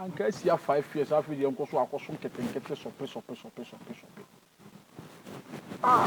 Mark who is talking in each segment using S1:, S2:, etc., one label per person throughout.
S1: anka asia five years afei deɛ nkɔ so akɔso nketenkete sɔpe sɔpe sɔpe sɔpe sɔpe ah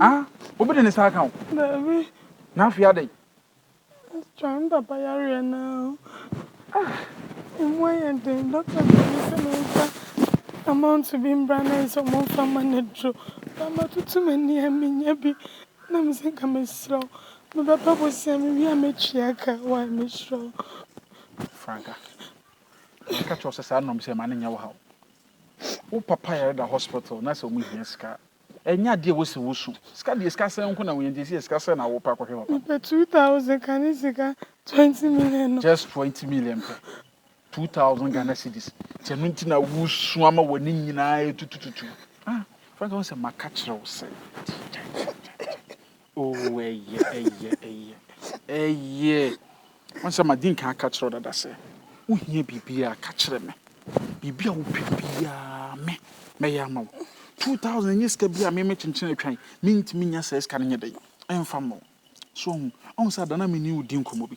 S1: Ah, obi de ne nsa aka wo? Daabi.
S2: Na afei
S1: adɛn? Astra,
S2: me papa yareɛ no a, ɛmu ayɛ den. Dɔkta de me sɛ memfa amount bi mbra na ayɛ sɛ wɔmfa mma no aduro. Ba matutu m'ani a mennya bi. Na me sɛ nka mesrɛ wo, mebɛba bosea mewie a mɛtua ka. Why, mesrɛ wo. Franca,
S1: meka kyerɛ wo sɛ saa nnɔm sɛ mma no nyɛ wo haw. Wo papa yare da hospital na sɛ wɔhia sika a, Ɛnyɛ adeɛ a ɛwɔ sɛ wosu. Sika deɛ sika sɛn nko na wohia nti ɛsɛ yɛ sika sɛn na wopɛ akɔhwɛ papa. Mepɛ two thousand ka ne
S2: sika twenty million no. Just twenty million
S1: pɛ. Two thousand Ghana cedis. Nti ɛno nti na wosu ama w'ani nyinaa ɛtutututu. Ah Frank wohu sɛ maka kyerɛ wo sɛ. Kyɛ kyɛ kyɛ kyɛ. Oh, ɛyɛ, ɛyɛ, ɛyɛ, ɛyɛ. Wɔn sɛ madi nkan aka kyerɛ dada sɛ, wohia biribiara ka kyerɛ me. Biribi a wopɛ biara me, mɛyɛ ama wo. 2000 nyɛ sika bi a me mɛkyenkyen atwa yi, mentumi nya saa sika no nyɛ dɛn, ɛmfa mma wo. So wohu, wohu sɛ ada no a me ne wo di nkɔmmɔ bi.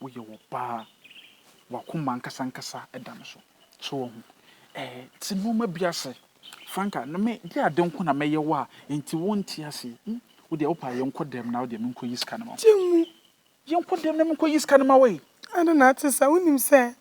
S1: woyɛ ɔbaa, w'akoma ankasa ankasa da no so. So wɔn ɛɛ te nneɛma bi ase. Franka, na me de ade nko na mɛyɛ wo a, enti wonte ase. Hmm, wo deɛ wopɛ a yɛnkɔ dɛm na wo deɛ menkɔyi sika no ma wo. Gye mu.
S2: Yɛnkɔ dɛm
S1: na menkɔyi sika no ma wo e. Ade na ate saa.
S2: Wonim sɛ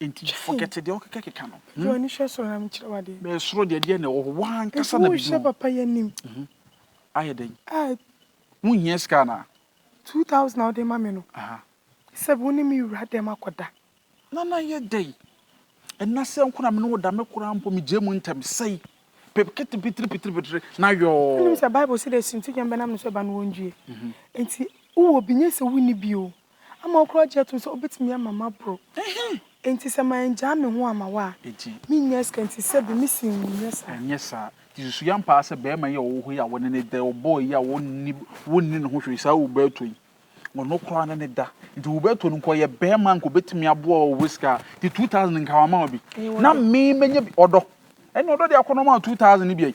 S1: Enti forget deɛ wokeka keka no. Gye w'ani hwɛ soro na
S2: menkyerɛ wo adeɛ. Bɛyɛ soro deɛ deɛ na ɛwɔ
S1: hɔ w'ankasa na biribi wɔ. Nti wohyɛ papa yi anim.
S2: Ayɛ
S1: dɛn? Wonhia
S2: sika anaa?
S1: Two thousand a
S2: wode ma me no. Sɛ wo ne me wura dɛm akɔda. Nana ayɛ
S1: dɛn? Ɛna sɛ nko na me ne wo da me koraa mpo megyae mu ntɛm sɛi. Pepkete pitiri pitiri pitiri na yɔɔ. Wonim sɛ Bible se deɛ
S2: sintidwam bɛnam ne so ba no wɔndue. Enti wowɔ bi nyɛ sɛ wonni bi o. ama ɔkura gye tom sɛ obetumi ama maboro. Enti sɛ mangyaa me ho amma wo a, minnya sika nti sɛbe mise wo nyɛ saa. Ɛnyɛ saa. Nti susuw
S1: ampa ara sɛ barima yi a ɔwɔ hɔ yi a wɔne no da yi, ɔbɔɔ yi a wonni ne ho hwee, saa Uberto yi, ɔno koraa ne no da. Nti Uberto no nka ɔyɛ barima a nka obetumi aboa wo wɔ sika a, nti 2000 no nka wama wo bi. Na me manya bi. Ɔdɔ. Ɛnna ɔdɔ deɛ akɔnnɔ maa wo 2000 no bi ai.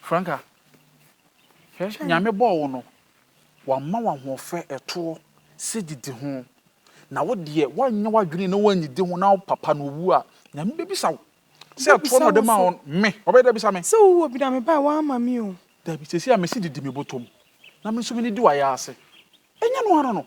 S1: Franca, hwɛ, Nyame bɔɔ wo no, wama wo ahoɔfɛ, ɛtoɔ, sɛ didi ho, na wo deɛ woanyɛ w'adwene na woannidi ho na wo papa no ɔwu a, Nyame bɛbisa wo sɛ ɛtoɔ na ɔde maa wo no, me, ɔbɛyɛ dɛ abisa me. Sɛ wowɔ bi na me bae,
S2: woamma me o. Dabi, seesei a mese didi
S1: me bɔtɔ mu, na me nso menidi w'ayaaase, ɛnyɛ ɛno ara no?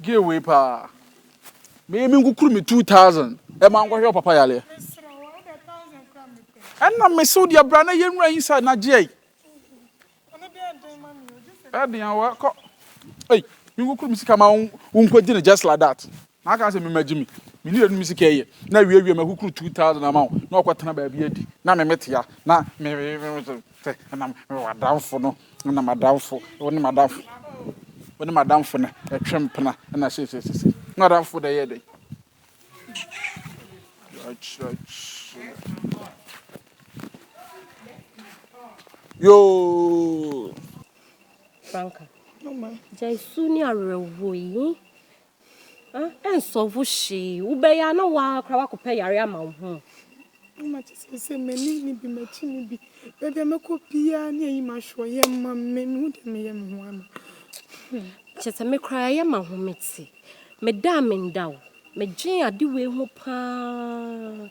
S1: Gay wei paa. Me me nkukuru me 2000 ɛma e nkɔhwɛ papa yareɛ. Ɛna me so deɛ bra na yɛ nwura inside na gyeɛ. Ɛden awa kɔ. Ei, me nkukuru me sika ma wo nkɔgye no just like that. Na aka sɛ me ma gye me. Me ne yɛnu me sika yɛ. Na wie wie ma kukuru 2000 ama wo. Na ɔkɔ tena baabi adi. Na me metea. Na me me me. Sɛ na mewɔ adamfo no, na m'adamfo, wo ne m'adamfo, wo ne m'adamfo no ɛtwe mpena na seesei sisi. Na adamfo dɛ yɛ dɛ. Yoo. Franka.
S3: Mama.
S2: Jai su ni
S3: awerɛhoɔ yi. Ɛnsɔlvo hwee. Wobɛyɛ a na wo ara koraa woakɔpɛ yare ama wo ho. Mama kyɛ
S2: sɛ sɛ m'ani nni bi, m'akyi nni bi, baabi a mɛkɔ biara ne ayi m'asoɔ yɛ ma me. Mehu deɛ meyɛ me ho ama. Kyɛ
S3: sɛ me koraa yɛ ma ho mete. Meda a menda o, medwen ade wei ho paa.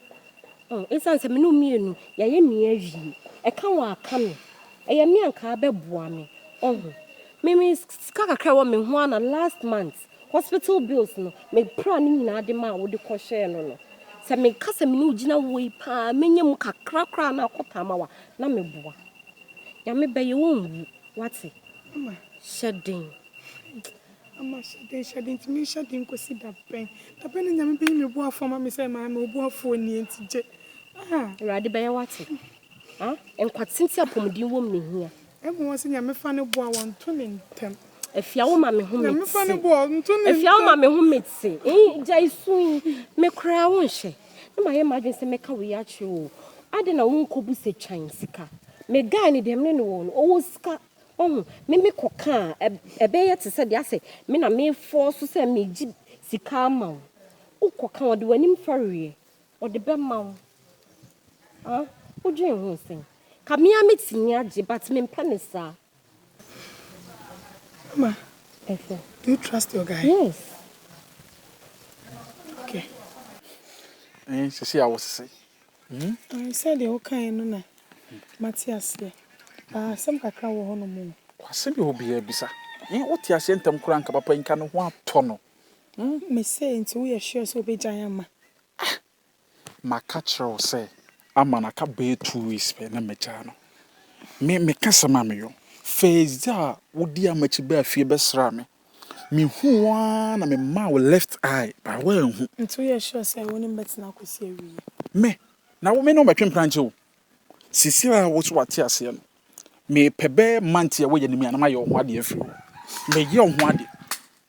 S3: Ɛsiane sɛ me ne wo mmienu yɛayɛ me awie. Ɛka wo a ka me. Ɛyɛ me a nka abɛboa me. Ɔho. Me me sika kakra a ɛwɔ me ho ara na last month hospital bills no me praa ne nyinaa de maa wo de kɔhwɛɛ no no. Sɛ meka sɛ me ne wo gyina wɔ yi paa mɛnya mu kakra koraa na akɔ taama wo a na meboa. Nyame bɛyɛ wonwu wate. Mama.
S2: Hyɛ den. Mama hyɛ den hyɛ den nti menhyɛ den nkɔsi da bɛn? Da bɛn na Nyame bɛyi me boafoɔ ama me sɛ maame oboafoɔ nie nti gye. Ah. Awurade
S3: bɛyɛ wate. Ah, nkwatenten apɔmuden wom na ɛhia. Ɛma wɔn sɛ Nyame fa
S2: no boa wɔn nto ne ntɛm. Afia wo ma me
S3: ho mete. Nyame fa no boa wɔn nto
S2: ne
S3: ntɛm.
S2: Afia wo ma me ho mete.
S3: Eyi gya isu yi me koraa wo nhyɛ. Na ma yɛ m'adwene sɛ mɛka wo yi akyerɛ o. Adɛn na wo nkɔ bu sɛ twan sika. Me guy no deɛ me ne no wɔ no ɔwɔ sika. Wahu me me kɔ ka a ɛbɛ yɛ te sɛ deɛ asɛ me na me fɔɔ so sɛ me gye sika ama wo. Wo kɔ ka ɔde w'anim fɛreɛ. Ɔde bɛma wo ah wodwen ho sɛn. Ka me ara mɛtumi agye but mempɛ no saa.
S2: Mama, do
S3: you trust your
S2: guy? Yes. Okay.
S1: Ɛn sisi a wosese. Ɛn
S2: sɛdeɛ wokaeɛ no na mate aseɛ but asɛm kakra wɔ hɔnom o. Kwase bi hɔ biara
S1: bisa. Ɛn wote aseɛ ntɛm koraa nka papa yi nka ne ho atɔ no. Mese
S2: nti woyɛ sure sɛ wobɛgyae ama. Ah! Maka
S1: kyerɛ wo sɛ ama no aka bɛyɛ two weeks pɛ na magyaa no. Me meka asɛm a meyɔ. First day a wodii amakyi baa fie bɛsraa me, mehuu wo ara na memaa wo left eye but woanhu. Nti woyɛ sure sɛ
S2: wo ne me bɛtena akɔsi awieɛ? Me? Na
S1: wo me ne wo mmɛtwe mprankyɛ o. Seesei a wo so wate aseɛ no, mepɛ bɛyɛ month yi a woyɛ no mu yi a na mayɛ wo ho adeɛ afiri hɔ. Meyɛ wo ho adeɛ.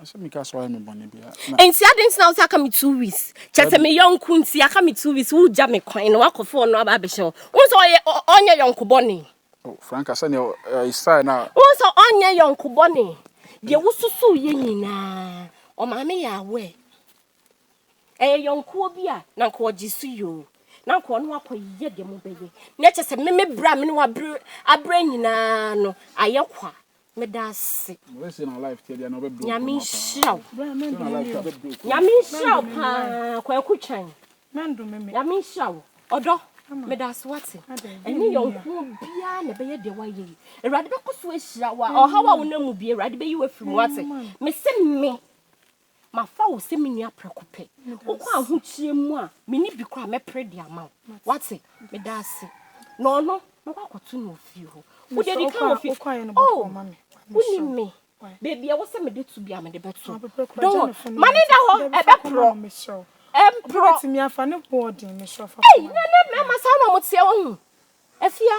S3: Asɛ me ka sɛ wayɛ me
S1: bɔne bi a na. Nti adɛn nti na wosɛ
S3: aka me two weeks? Kyɛ sɛ me yɔnko nti aka me two weeks wogya me kwan na wakɔfa ɔno aba abɛhyɛ wo. Wohu sɛ ɔyɛ ɔnyɛ yɔnko bɔne. Oh Franca sɛdeɛ
S1: ɛyɛ style no a. Wohu sɛ ɔnyɛ
S3: yɔnko bɔne. Deɛ wosusu yɛ nyinaa ɔmaame yɛ aware. Ɛyɛ yɔnkoɔ bi a na nka ɔgye so yi o. Na nka ɔne wakɔ yɛ deɛ mobɛyɛ. Na kyɛ sɛ me me berɛ a me ne wo aberɛ nyinaa no ayɛ kwa. meda ase
S1: nyame nhyira wo
S2: nyame nhyira wo
S3: paa kwaku twan
S2: nyame nhyira wo
S3: ɔdɔ meda ase wate ɛne yɔnkoɔ biara na ɛbɛyɛ deɛ woayɛ yi awurade bɛkɔ so ahyira wo a ɔhaw a wonam mu bie awurade bɛyi wo afiri mu wate mese me Mafa wo sɛ me nua prɛko pɛ. Wokɔ ahokyerɛ mu a, me nni bi koraa a, mɛpere de ama wo. Woate? Meda ase. Na ɔno, mɛkɔ akɔto no wɔ fie hɔ. Wode adi kan wɔ fie. Oh, wonim me. Baabi a ɛwɔ sɛ mede to biara, mede bɛto. Don't worry. Ma no nna hɔ, ɛbɛporɔ. Ɛmporɔ.
S2: Ei,
S3: na
S2: ɛnnɛ mmarima saa na wɔteɛ, woahu. Afia.